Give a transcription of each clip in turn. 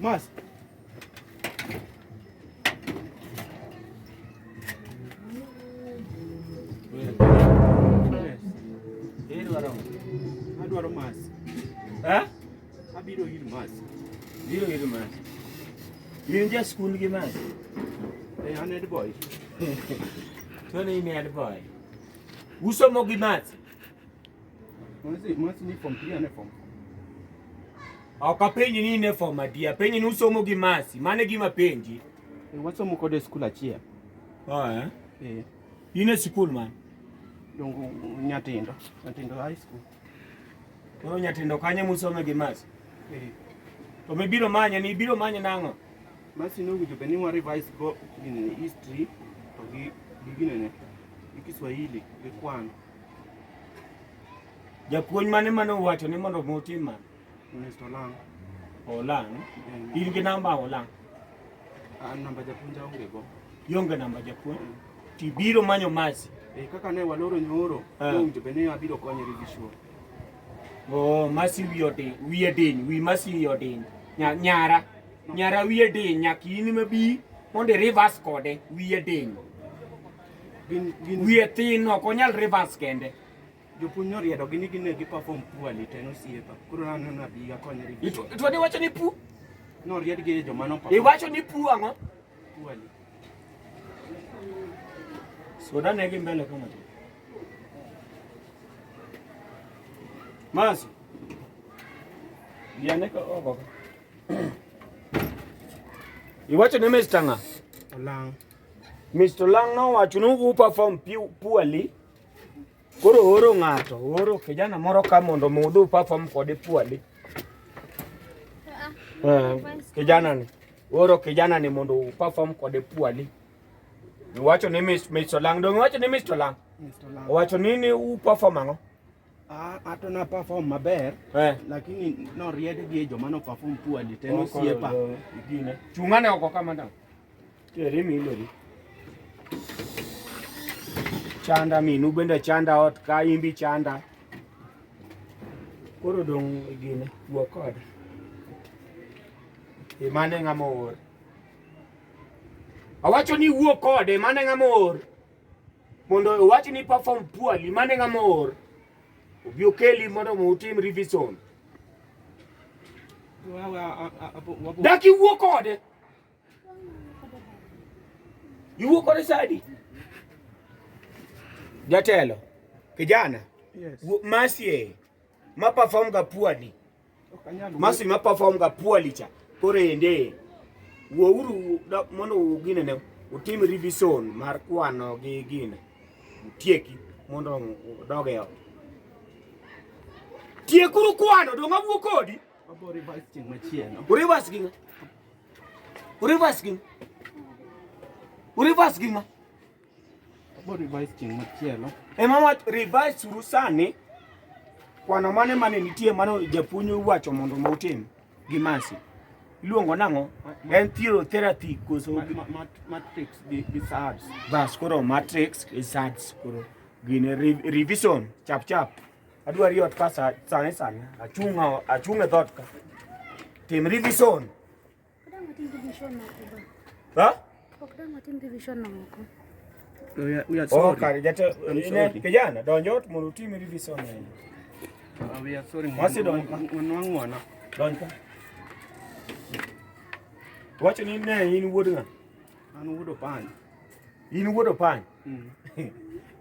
Mas. Adwaro mas. Eh? Abiro ir mas. Biro ir mas. In ja skul gi mas. Eh, an head boy. Tony in head boy. Usomo gi mas. Ok apenji ni in e form adi, apenji ni usomo gi Mercy, mano e gima penji. E, wasomo kode e skul achiel. Oh, eh? Eh. In e skul man? Dongo Nyatindo, Nyatindo High School. Koro Nyatindo kanye musome gi Mercy? Eh. To mibiro manye ni ibiro manye nang'o? Mercy nowinjo bed ni wa revise go history to gi gi ginene gi Kiswahili gi kwano. Japuonj mane mane owacho ni mondo mutim ma? Mr. Lang. Olang. In gi namba Olang. An namba japuonj aonge go. Ionge namba japuonj. Mm. Tibiro manyo masi. Eh, kaka ne waloro nyoro, ah. owinjo be ne abiro konyo gi show. Oh, masi wiyo din, wiye din, wi masi wiyo din. Nyara. Nyara wiye din, nyaki in mabi mondo irivas kode wiye din. Gin gin Wiye tin ok onyal reverse kende. jopuonj noriedo gini gine gi perform poorly to en osiepa. Koro nano na bi akonye review. Itu- Ituo ni wacho ni pu. Noried gi joma no perform Iwacho ni pu ang'o? poorly. Soda ne gi mbele kama. Masi. Yane ka ogo. Iwacho ni Mr. Nga. Olang'. Mr. Lang nowacho ni u perform poorly. Koro ooro ng'ato, ooro kijana moro ka mondo mudhu perform kode poorly. Uh, kijana ni ooro kijana ni mondo u perform kode poorly. Wacho ni Mr. Lang, donge wacho ni Mr. Lang? Mr. Lang. Wacho ni ni u perform ang'o? ato na perform maber eh. lakini noried gi joma no perform poorly te nosiepa gine chung'ane oko kama da teri mi ileri chanda minu bende chanda ot ka imbi chanda koro dong' gine wuo kod imane ng'ama oor awacho ni wuo kode mane ng'ama oor mondo owach ni perform poorly mane ng'ama oor obi okeli mondo utim revision dak iwuo kode iwuo kode sadi jatelo kijana yes. masie ma perform ga poorly Masi ma perform ga poorly cha. Koro ende wuouru mondo ugine ne utim revision mar kwano gi gine utieki mondo odog e ot tiekuru kwano donga wuo kodi urivas gima urivas gima urivas gima Ema wach revise suru sani kwano mane mane nitie mano japuonj wacho mondo ma utim gi masi iluongo nang'o en thiro therapy koso matrix gi SADS bas koro matrix gi SADS koro gine revision chap chap adwari yot ka sani sani achunga achunga dhot ka tim revision Ha? Oh, kijana donjo ot mondo utim revision ahinya. Wacho ni ne in wuod ng'a? An wuod Opany. In wuod Opany? Mm.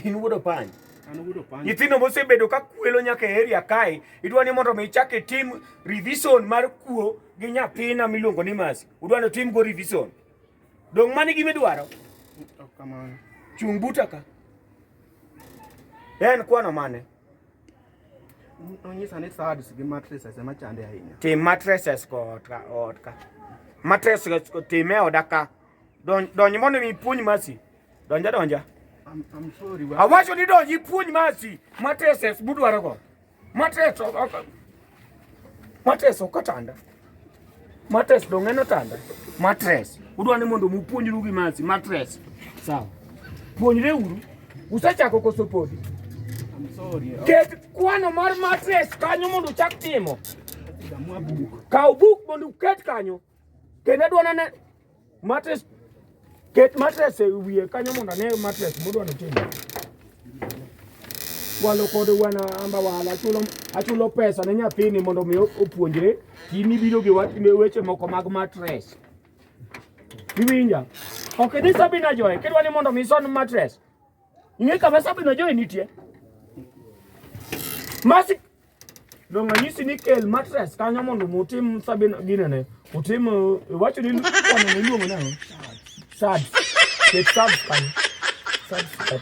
In wuod Opany? nyithindo mosebedo ka kwelo nyaka e area kae idwa ni mondo mi ichak itim revision mar kuo gi nyathina miluongo ni Masi udwani otim go revision. Dong' mani gima idwaro? Chung' buta ka. En kwano mane? Onyisa ni sads gi mattresses ema chande ahinya. Tim mattresses kod ka od ka. Mattresses kod tim e oda ka. Donj mondo mi puonj Masi. Donja donja. I'm, I'm sorry. Awacho ni donji puonj Masi. Mattresses budwaro go. Mateso kaka mateso katanda. Matres dong en otanda. Matres. Udwa ni mondo mupuonjru gi masi matres. Sawa. Puonjre uru. Usechako koso podi. Ket kwano mar matres kanyo mondo uchak timo. Kaw buk mondo uket kanyo. Kendo adwa nene Matres ket matres e wiye kanyo mondo ane matres modwa notimo. Walo kode wana amba wala achulo achulo pesa ne nyathini mondo mi opuonjre in ibiro gi wat ne weche moko mag matres. Iwinja? Okay, this Sabina Joy, kidwa ni mondo mi son matres. Ng'e kama sabino joy nitie. Masi donge anyisi ni kel matres kanyo mondo mutim sabino ginene. Utim uh, wacho ni kwano ni luongo nang'o? Sad. Ket sad kanyo. Sad. Sad.